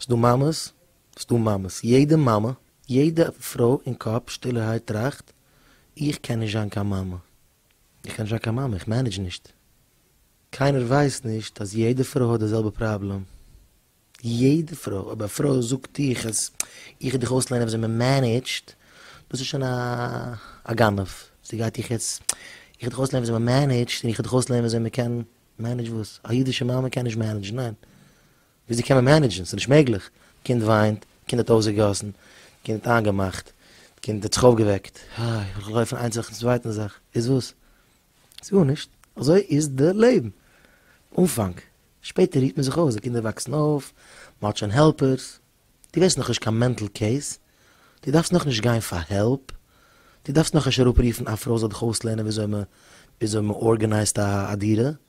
ס'דא מאמעס, ס'דא מאמעס. יעדע מאמע, יעדע פרוי אין קאפ שטילערהייט טראכט, איך קען נישט זיין קיין מאמע. איך קען נישט זיין קיין מאמע, איך מענעדזש נישט. קיינער ווייסט נישט אז יעדע פרוי האט די זעלבע פראבלעם. יעדע פרוי. אויב א פרוי זאגט איך אז איך דיך אויסלערנען וויאזוי מ'מענעדזשט, דאס איז שוין א גנב. זי גייט איך יעצט, איך דיך אויסלערנען וויאזוי מ'מענעדזשט און איך דיך אויסלערנען וויאזוי מ'קען, מענעדזש וואס? א אידישע מאמע קען נישט מענעדזשן, ניין. וויאזוי קען מען מענעדזשן? ס'איז נישט מעגליך. קינד וויינט, קינד האט אויסגעגאסן, קינד האט איינגעמאכט, קינד האט זיך אויפגעוועקט, איי, איך לויף פון איין זאך צום צווייטן זאך, איז וואס? איז גארנישט, אזוי איז די לעבן. אנפאנג, שפעטער רוהט מען זיך אויס, די קינדער וואקסן אויף, מ'האט שוין העלפערס, דו ווערסט נאכנישט קיין מענטל קעיס, דו דארפסט נאכנישט גיין פאר העלפ, דו דארפסט נאכנישט אראפרופן א פרוי זאל דיך אויסלערנען וויאזוי מ'ארגענייזט א דירה,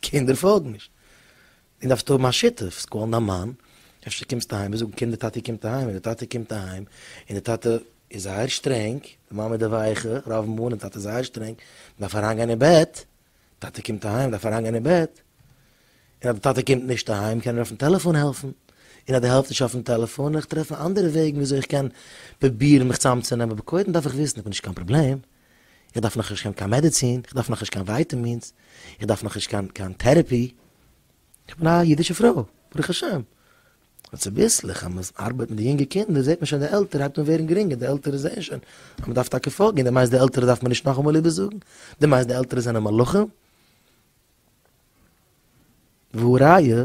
קינדער פאלגן נישט. איר דארפט האבן א שותף, זיי קאלן דיין מאן, אפשר קומסטו אהיים, זיי זאגן קינדער טאטי קומט אהיים, און די טאטע קומט אהיים, און די טאטע איז זייער שטרענג, די מאמע איז די ווייכע, רוב מאל, און טאטע איז זייער שטרענג, מ'דארף אריינגיין אין בעט, טאטע קומט אהיים, מ'דארף אריינגיין אין בעט, און אז די טאטע קומט נישט אהיים, קען ער אויפן טעלעפאן העלפן, און אז דו העלפסט נישט אויפן טעלעפאן, און איך טרעפן אנדערע וועגן וויאזוי איך קען פרובירן מיך צאמצונעמען, אבער קודם דארף איך וויסן, איך בין נישט קיין פראבלעם, איך דארף נאכנישט קיין קיין מעדעצין, איך דארף נאכנישט קיין ווייטעמינס, איך דארף נאכנישט קיין קיין טערעפי, איך בין א אידישע פרוי, ברוך השם. און צוביסלעך אז מען ארבייט מיט די יונגע קינדער זעט מען שוין די עלטער הייבט אן ווערן גרינגער, די עלטערע זעען שוין אז מען דארף טאקע פארגין, די מיינסט די עלטערע דארף מען נישט נאכאמאל איבערזאגן? די מיינסט די עלטערע זענען מלאכים? והא ראיה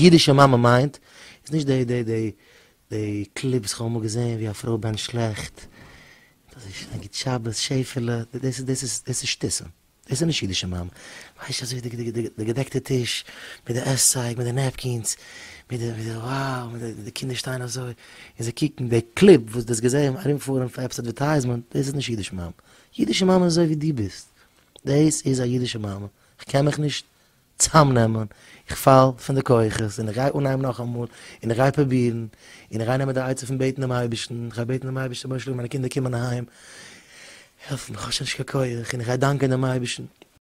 אידישע מאמע מיינט איז נישט די די די די קליפ וואס כ'האב אמאל געזעהן ווי א פרוי בענטשט שלעכט און אזוי שוין גוט שבת שעפעלע דאס איז דאס איז דאס איז שטיסען דאס איז נישט אידישע מאמע ווייסט אזוי די די די די געדעקטע טיש מיט די עסצייג מיט די נעפקינס מיט די מיט די וואו מיט די די קינדער שטייען אזוי און זיי קוקן די קליפ וואס די האסט געזעהן ארומפארן פאר עפעס אדווערטייזמענט דאס איז נישט אידישע מאמע אידישע מאמע איז אזוי ווי די ביסט דאס איז א אידישע מאמע כ'קען מיך נישט צאמנעמען, איך פאל פון די כוחות, און איך גיי אנהייבן נאכאמאל, און איך גיי פרובירן, און איך גיי נעמען די עצה פון בעטן דעם אייבערשטן, איך גיי בעטן דעם אייבערשטן, רבונו של עולם מיינע קינדער קומען אהיים, העלף מיר, איך האב שוין נישט קיין כח, און איך גיי דאנקען דעם אייבערשטן.